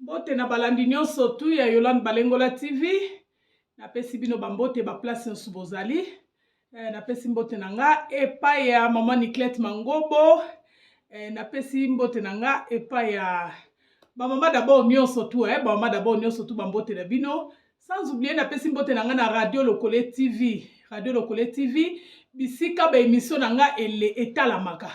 mbote na balandi nyonso tu ya yolande balengola tv napesi bino bambote baplace nyonso bozali eh, napesi mbote na nga epai ya mama niclete mangobo eh, napesi mbote na nga epai ya bamama dabord nyonso tu eh, bamama dabord nyonso tu bambote na bino sans oublie napesi mbote na nga na radio lokole tv radio lokole tv bisika baemission na nga ele etalamaka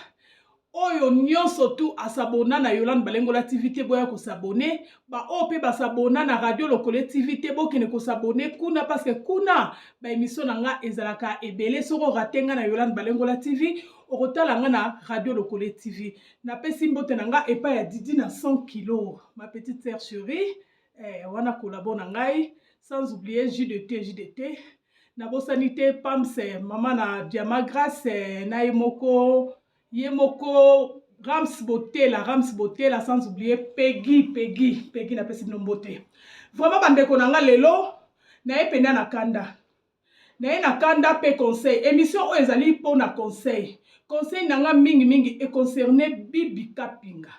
oyo nyonso tu asabona na Yolande Balengola TV te boya kosabone, baoyo mpe basabona na Radio Lokole TV te bokende kosabone kuna paske kuna baemisio na nga ezalaka ebele. Soki orate nga na Yolande Balengola TV okotala nga na Radio Lokole TV. Napesi mbote na nga epai ya Didi na 100 kilo, ma petite sœur cherie, eh, wana kolabo na ngai sans oublier jus de thé, jus de thé nabosani te Pamse, mama na Diama Grace na ye moko ye moko rams botela rams botela sans oublier pegi pegi pegi napesi bino mbote vraiment bandeko na nga lelo naye mpenda na kanda naye na kanda mpe conseil émission oyo ezali mpo na conseil conseil na nga mingimingi econcerne bibi kapinga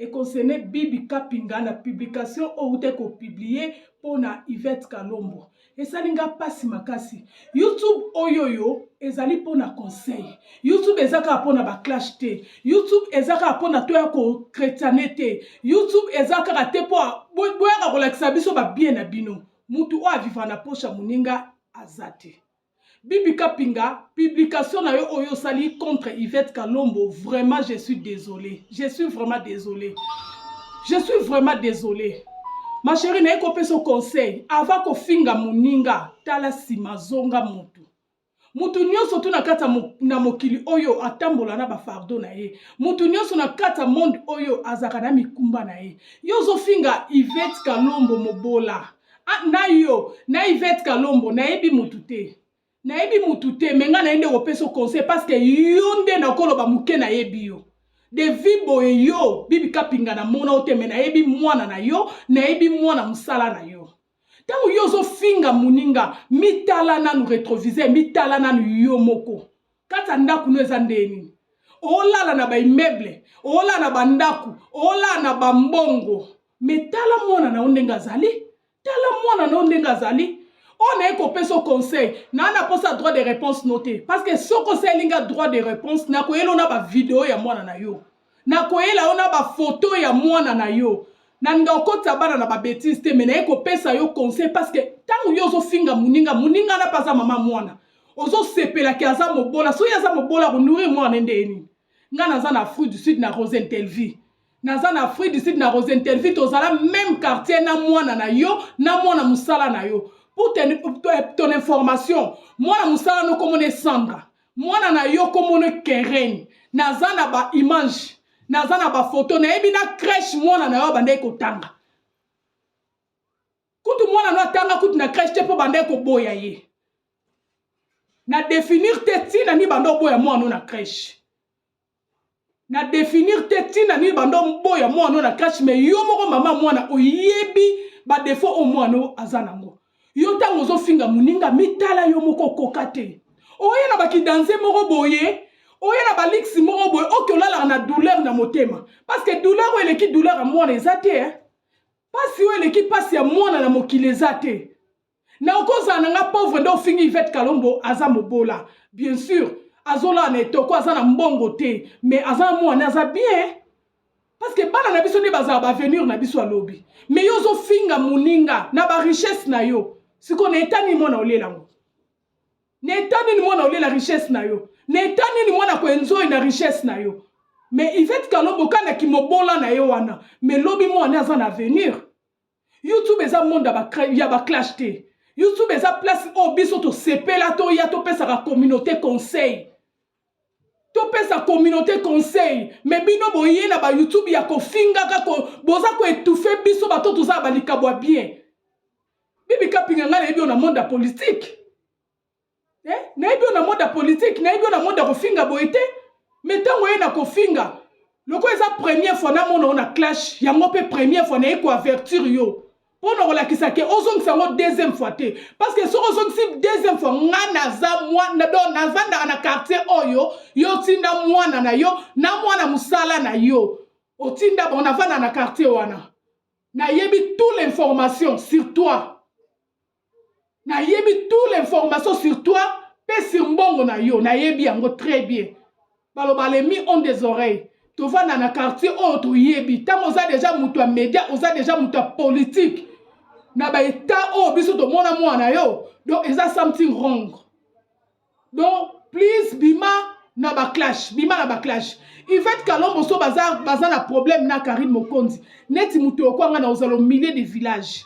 e concerne Bibi Kapinga na publication oyo uta ko publier mpo na Yvette Kalombo. Esali nga pasi makasi. YouTube oyoyo ezali mpo na conseil. YouTube eza kaka mpo na ba clash te. YouTube eza kaka mpo na toya ko chretiane te. YouTube eza kaka te mpo boyaka kolakisa biso ba bien na bino. Mutu oyo aviva na poche ya moninga aza te. Bibi Kapinga, publication na yo oyo osali contre Yvette Kalombo, vraiment je suis désolé. Je suis vraiment désolé. Je suis vraiment désolé. Ma chérie naye kopesa conseil avant kofinga moninga tala nsima zonga motu moto nyonso to na kati na mokili oyo atambola na bafardo na ye moto nyonso na kati ya monde oyo azalaka na mikumba na ye yo ozofinga ivete kalombo mobola Ah, na yo na Yvette Kalombo nayebi mutu te nayebi mutu te me ngai naye nde kopesa conseil parce que yo nde nakoloba moke nayebi yo devi boye yo bibi kapinga namona yo te me nayebi mwana na yo nayebi mwana mosala na yo ntango yo ozofinga moninga mitala nanu retroviseur mitala nanu yo moko kati ya ndako no eza ndenge nini olala na baimmeuble olala na bandako olala na bambongo me tala mwana na yo ndenge azali tala mwana na yo ndenge azali oyo naye kopesa o conseil naa na posa droit de réponse no te parce que soki osaleli nga droit de réponse nakoyela yo na bavideo ya mwana na yo nakoyela yo na bafoto ya mwana na yo nalinga kokotisa bana na babetise te me naye kopesa yo conseil parce que ntango yo ozofinga moninga moninga na mpe aza mama mwana ozosepelaki aza mobola soki aza mobola akonourir mwana nde ye nini ngai naza na afrique du sud na rosentelvie naza na afrique du sud na rose interview tozala meme quartier na mwana na yo na mwana mosala na yo pour ten, ton information mwana mosala no komona esambra mwana na yo komona keren naza na baimage naza na bafoto nayebi na crèche mwana na yo abandaki kotanga kutu mwana no atanga kutu na crèche te mpo bandaki koboya ye na definir te ntina nibanda oboya mwana no na crèche na definir te ntina nini banda oboya mwana oyo na crèche mais yo moko mama mwana oyebi badefaut oyo mwana oyo aza nango yo ntango ozofinga moninga mitala yo moko okoka te oye na bakidanze moko boye oye na baliksi moko boye oke olalaka na douleur na motema parce que douleur oyo eleki douleur ya mwana eza te eh? mpasi oyo eleki mpasi ya mwana na mokili eza te na okozala na nga pauvre nde ofingi Yvette Kalombo aza mobola bien sûr azolala na etoko aza na mbongo te mais aza na mwana aza bien parce que bana na biso nde bazala baavenir na biso alobi mais yo ozofinga moninga na barichesse na yo sikoyo na eta nini mwana olela yango na eta nini mwana olela richesse na yo na eta nini mwana koenzoi na richesse na yo mais ivete kalombo kana kimobola na ye wana mais lobi mwana aza na avenir youtube eza monde ya baclash te youtube eza place oyo biso tosepela toya topesaka communauté conseil topesa communauté conseil me bino boye na bayoutube ya kofingaka ko, boza koetufe biso bato tozala balikabo ya bien bibi kapinga ngai nayebi oyo na monde ya politike eh? nayebi yo na monde ya politike nayebi yo na monde ya kofinga boye te me ntango oye na kofinga lokola eza première fois namona yo na clash yango mpe première fois naye koavertir yo mpo na kolakisa ke ozongisa yango deuxième fois te parce que soki ozongisi deuxième fois nga naza mwana do navandaka na quartier oyo yo otinda mwana na yo na mwana mosala na yo otinda bango navandaka na quartier wana nayebi tout l'information sur toi nayebi tout l'information sur toi mpe sur mbongo na yo nayebi yango très bien baloba le mi on des oreilles tovanda na quartier oyo oh, toyebi ntango oza deja moto ya média oza deja moto ya politique na baetat oyo oh, biso tomona mwana yo donc eza something wrong donc please bima na baclash bima na baclash ivete kalombo so baza, baza na problème na karine mokonzi neti moto yokwanga na ozala au milieu de village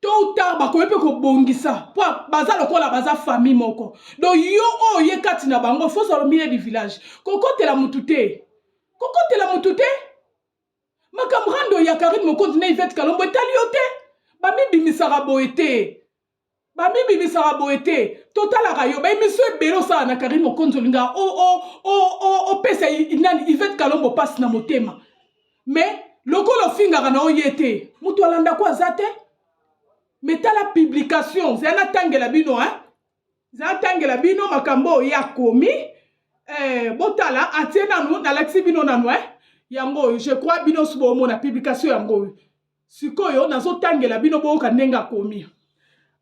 tôt ou tard bakoki mpe kobongisa mpo baza lokola baza famille moko donc yo oyo oh, ye kati na bango fo ozala milieu du village kokotela mutu te kokotela mutu te makambo rando ya karine mokonzi na ivete kalombo etali yo te bamibimisaka boye te bamibimisaka boye te totalaka yo baemisio ebele osala na karine mokonzi olingaka opesa nani ivete kalombo mpasi na motema mais lokola ofingaka na oye te moto alanda ko aza te mais tala publication zala natangela bino hein zala natangela bino makambo oyo ye akomi eh, botala atie nanu nalakisi bino nanu hein yango oyo je crois bino osi boomona publication yango oyo sikoyo nazotangela bino boyoka ndenge akomi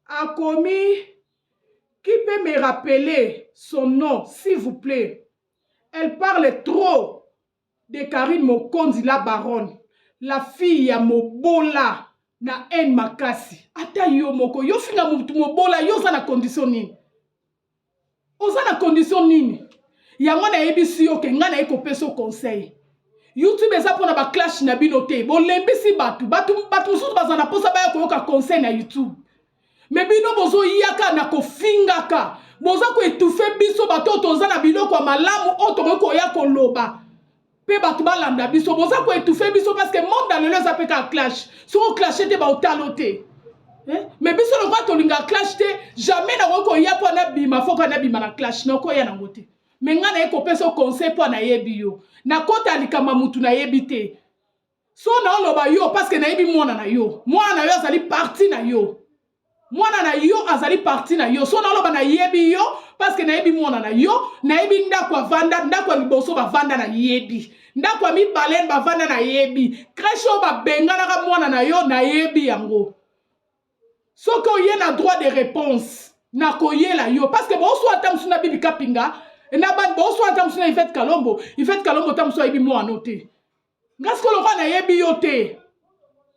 akomi qui peut me rappeler son nom s'il vous plaît elle parle trop de Carine mokonzi la baronne la fille ya mobola na haine makasi ata yo moko yo finga mutu mobola yo oza na condition nini oza na condition nini yango nayebisi yo ke ngai naye kopesa yo conseil youtube eza mpona baclash na bino te bolembisi bato bato mosusu bazala na mposa baya koyoka conseil na youtube me bino bozoyaka na kofingaka boza koetufe biso bato oyo toza na biloko ya malamu oyo tokoki koya koloba mpe bato balanda biso boza koetufe biso parce que monde ya lelo eza mpe kaka clash soki oclashe te baotalo te eh? me biso lokola tolingaka clash te jamais nakoki koya mpo anabima fo ka nabima na clash nakoya nango te me ngai naye kopesa conseil mpo anayebi yo nakota likambo ya motu nayebi te So na oloba yo parce que nayebi mwana na yo. Mwana na yo azali parti na yo. Mwana na yo azali parti na yo. So na oloba nayebi yo parce que nayebi mwana na yo, nayebi ndako avanda, ndako ya liboso bavanda nayebi. Ndako ya mibale bavanda nayebi. Crèche oyo babenganaka mwana na yo nayebi yango. soki oye na droit de réponse na koyela yo parce que boswa ata mosusu na bibi kapinga na boswa ata mosusu na ivete kalombo ivete kalombo ata mosusu ayebi mwano te nga sikoyo lokola nayebi yo te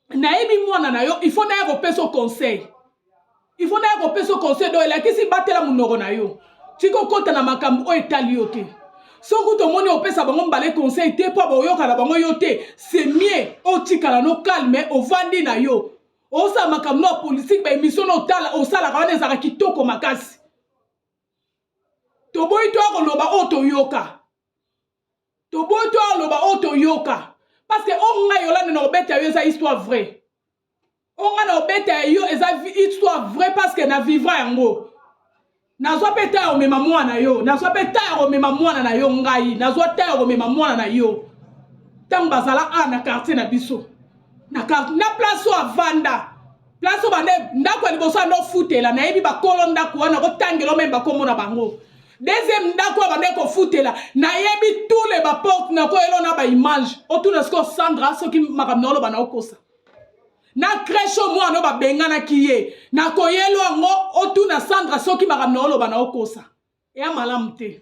nayebi mwana na yo il faut naya kopesa o conseil il faut naya kopesa o conseil do elakisi batela monoko na yo tika okota na makambo oyo etali yo te soki tomoni opesa bango mbale conseil te mpo boyoka na bango yo te c'est mieux otikala no calme ovandi na yo osala makambo na politike baemission na otala osalaka wana ezalaka kitoko makasi toboyi toya koloba oyo toyoka toboyi to aloba oyo toyoka parce que oyo ngai yolande na obeta yo eza histoire vrai oyo ngai na obeta ya yo eza histoire vrai parce que na vivra yango nazwa mpe ta ya komema mwana na yo nazwa mpe ta ya komema mwana na yo ngai nazwa ta ya komema mwana na yo ntango bazala a na quartier na biso na, na place oyo avanda place obanda ndako ya liboso anda ofutela nayebi bakolo ndako wana kotangela omeme bakombo na bango deuxième ndako oyo banda ekofutela nayebi tous les baporte nakoyela na baimage otuna sikoyo sandra soki makambo na oloba na okosa na crèche oyo mwana oyo babenganaki ye nakoyelo yango otuna sandra soki makambo na oloba na okosa eya malamu te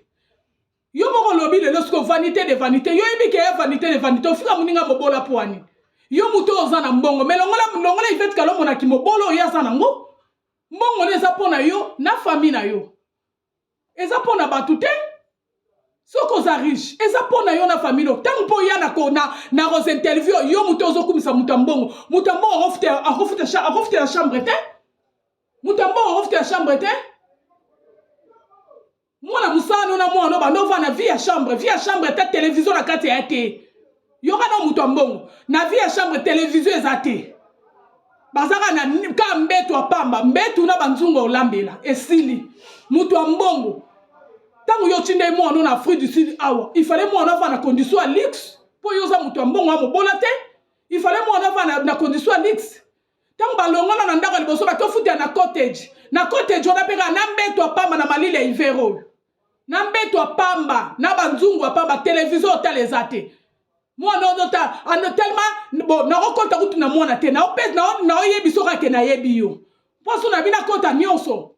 Yo moko olobi lelo siko vanite de vanite. Yo yebi ke vanite de vanite. Ofinga muninga mobola poani. Yo muto oza na mbongo. Me longola longola Yvette Kalombo na kimobolo oyo aza na ngo. Mbongo ne eza pona yo na famille na yo. Eza pona batu te. soki oza riche eza mpo na yo na famille no ntango mpo oya na rose interview yo moto ozokumisa moto ya mbongo moto ya mbongo akofutela chambre te moto ya mbongo akofutela chambre te mwana mosala no na mwana obanda ovanda vie ya chambre vie ya chambre ata televizio na kati ya te yoka na moto ya mbongo na vie ya chambre televizio eza te bazaka na ka mbetu ya pamba mbetu na banzungu ya olambela esili moto ya mbongo ntango yo otindai mwana na afrique du sud awa ifale mwana afa na condition ya luxe mpo yo oza moto ya mbongo ya mobola te ifale mwana afa na, na condition ya luxe Tango balongona na ndako ya liboso ba tofuta na cottage. Na cottage wana pe kaka na mbeto ya pamba na malili ya hiver oyo. Na mbeto ya pamba, na ba nzungu ya pamba, television otala eza te. Mwana ozo ta ano tellement bo nako kota kutu na mwana te. Nao pèse nao nao yebi soka ke na yebi yo. Poso na bina kota nionso.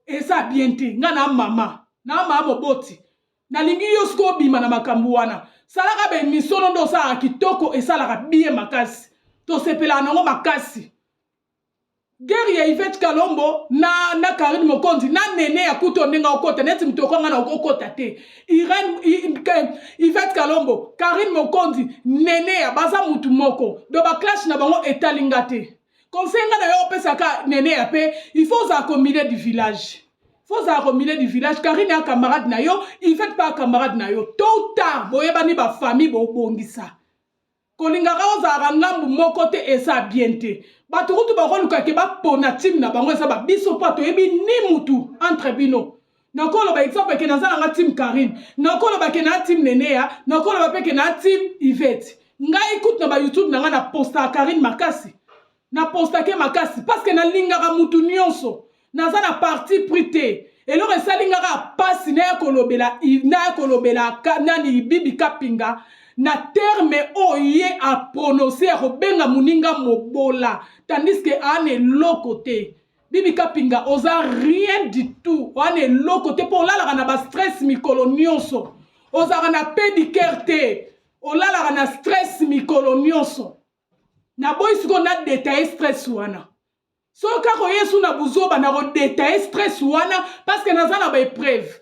Eza bien te. Nga na mama. Na mama moboti. nalingi yo sikoyo obima na makambo wana salaka bemisono nde osalaka kitoko esalaka biye makasi tosepelaka nango makasi gere ya ivete kalombo na, na karine mokonzi na nene ya kuto ndenge okota neti moto okanga na okokota te irene ivete kalombo karine mokonzi nene ya baza motu moko do baclashe na bango etali nga te conseil nga na yo opesaka neneya mpe il faut ozala ko milieu du village faut ozala ko milieu du village karine ya camarade na yo ivete mpe ya camarade na yo tôt ou tard boyebani bafamille bobongisa kolingaka ozalaka ngambu moko te eza bien te bato kutu bakoluka ke bapona time na bango eza babiso mpo toyebi ni mutu entre bino Nakoloba exemple ke naza na nga team Carine, nakoloba ke na team Neneya, nakoloba pe ke na team Yvette. Ngai kutu na ba YouTube na nga na postaka Carine makasi, na postaka ye makasi parce que nalingaka mutu nionso. Naza na parti pris te. Eloko esali nga kaka pasi naya kolobela naya kolobela nani Bibi Kapinga na terme oyo ye a prononcer ya kobenga muninga mobola tandis que aana eloko te. Bibi Kapinga oza rien du tout wana eloko te mpo olalaka na ba stress mikolo nyonso ozalaka na pedicare te olalaka na stress mikolo nyonso naboyi sikoyo na detaye stress wana soki kaka oyesu na buzoba nakodetaye stress wana parceke naza na baepreuve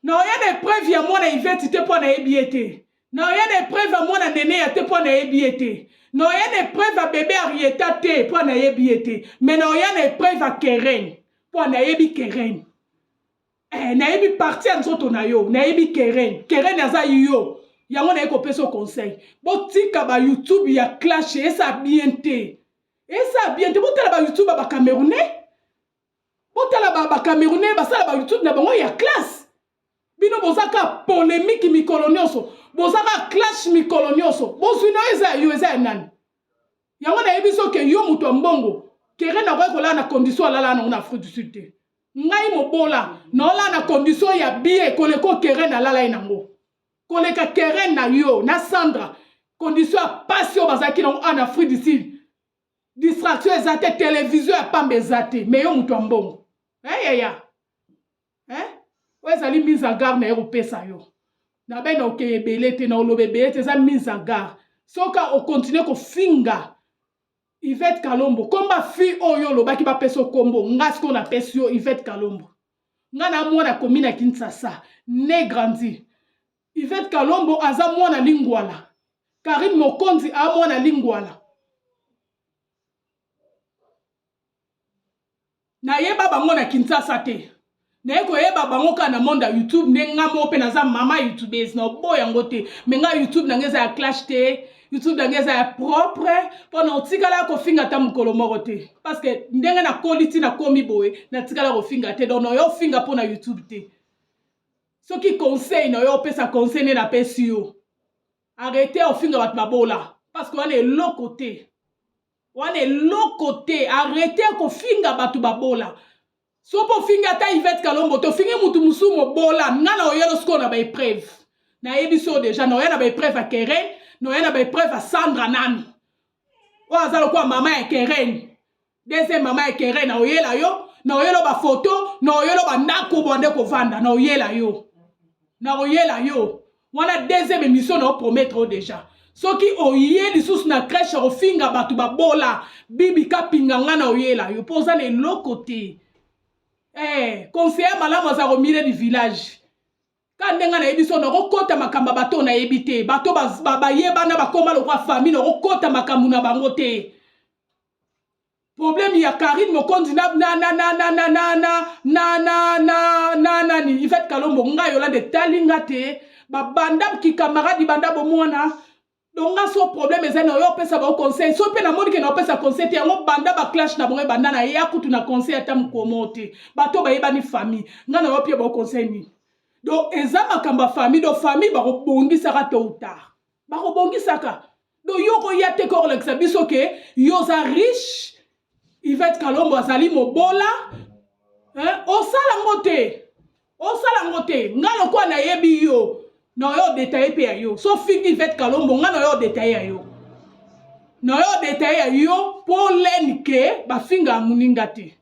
Naoya na epreuve ya mwana Yvette te mpo nayebi ye te. Naoya na epreuve ya mwana Neneya te mpo nayebi ye te. Naoya na epreuve ya bebe Arieta te mpo nayebi ye te. Me naoya na epreuve ya Keren mpo nayebi Keren. Eh, nayebi parti ya nzoto na yo, nayebi Keren. Keren aza yo. Yango naye kopesa yo conseil. Botika ba YouTube ya clash esa bien te. Esa bien te. Botala ba YouTube ya ba Camerounais. botala ba, ba camerounais basala ba youtube na bango ya classe bino boza ka polemique mikolo nyonso boza ka clash mikolo nyonso bozwi na yo eza ya yo eza ya nani yango nayebi so ke yo moto ya mbongo kere nakoki kolala na condition alala nango na afrique du sud te ngai mobola naolala na condition ya bie koleko keren alala ye nango koleka keren na yo na sandra condition ya pasi oyo bazalaki nango ana afrique du sud distraction eza te televizio ya pamba eza te me yo moto ya mbongo eyaya eh, eh? oyo ezali mise en garde na ye kopesa yo na bene okeye ebele te na oloba ebele te eza mise en garde soki okontinue kofinga ivete kalombo komba fi oyo olobaki bapesa okombo nga sikoyo napesi yo ivete kalombo nga na mwana komi na kinsasa ne grandi Yvette Kalombo aza mwana lingwala. Carine Mokonzi a mwana lingwala. Nayeba bango na Kinshasa te. naye koyeba bango kaka na monde ya youtube nde nga moko mpe naza mama youtubese na obo yango te me nga youtube na nga eza ya clash te youtube na nga eza ya propre mpo na otikala ya kofinga ata mokolo moko te parce que ndenge nakoli ti nakomi boye natikala kofinga te donc nayo ofinga mpo na youtube te soki conseil na yo opesa conseil nde napesi yo arrete ofinga bato babola parceke wana eloko te wana eloko te arrete kofinga bato babola so mpo ofingi ata ivete kalombo te ofingi motu mosusu mobola nga na oyelo sikoyo na baepreuve nayebi so deja na oya na baepreuve ya keren na oya na baepreuve ya sandra nanu oyo aza lokola mama ya kereni deuxième mama ya kereni aoyela yo naoyela bafoto naoyela bandako bande kovanda naoyela yo naoyela yo wana deuxième émission nao promettre o déjà soki oye lisusu na crèche ofinga bato babola bibi kapinga nga na oyela yo mpo oza na eloko te eh, conseiller malamu aza komire du village Kaka ndenge nayebi so nakokota makambo ya bato nayebi te, bato bayebana bakoma lokola famille, nakokota makambo na bango te. problème ya Karine Mokonzi na na na na na na na na na na na na na ni Yvette Kalombo nga yola de talinga te ba banda ki camarade banda bomona donc nga so problème eza na yo opesa bango conseil so mpe namoni ke na opesa conseil te yango banda baclash na bango ebanda na eya kutu na conseil ata mokomo te bato bayebani famille nga na yo mpe bango conseil nini donc eza makambo ya famille donc famille bakobongisaka to utard bakobongisaka donc yo okoya te ke okolakisa biso ke yo oza riche Yvette Kalombo azali mobola eh, osala ngo te osala ngo te nga lokola nayebi yo naoyo detaye mpe ya yo so figi Yvette Kalombo nga naoyo detaye ya yo naoyo detaye ya yo mpo leni ke bafinga moninga te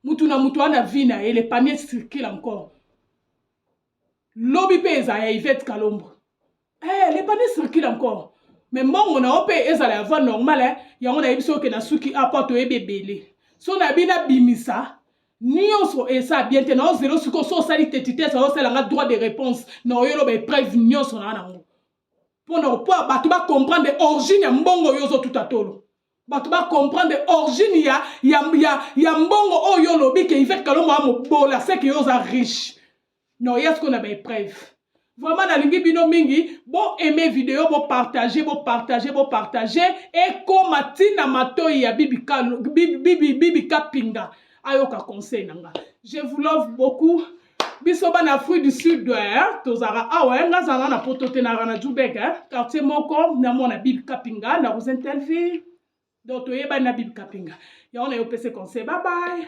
mutu na mutu wana vie na ye le panier circule encore lobi mpe eza ya Yvette Kalombo Eh, les panneaux circulent encore. Mais mbongo na ope ezala ya voie normale, hein. yango na yebiso ke na suki apo to yebe belé. So na bina bimisa nionso esa bien te na zelo siko so sali tetite sa osala nga droit de réponse na oyelo ba épreuve nionso na nango. Pona opo bato ba comprendre origine ya mbongo yo zo tutatolo. bato bacomprendre origine ya, ya, ya, ya mbongo oyo olobi ke ivete kalombo amobola seke yo oza riche na oya sikoyo na baepreuve vraiment nalingi bino mingi bo aime video bo partage bo partage bo partage ekoma ntina matoi ya bibi kapinga ayoka conseil na nga je vous love beaucoup biso bana afrique du sud eh, tozalaka awa ah eh, nga zala na poto te nalaka na jubek eh, quartier moko na mwana bibi kapinga na rosen telvi donc toyebani na bibi kapinga yango na yo pese conseil babaye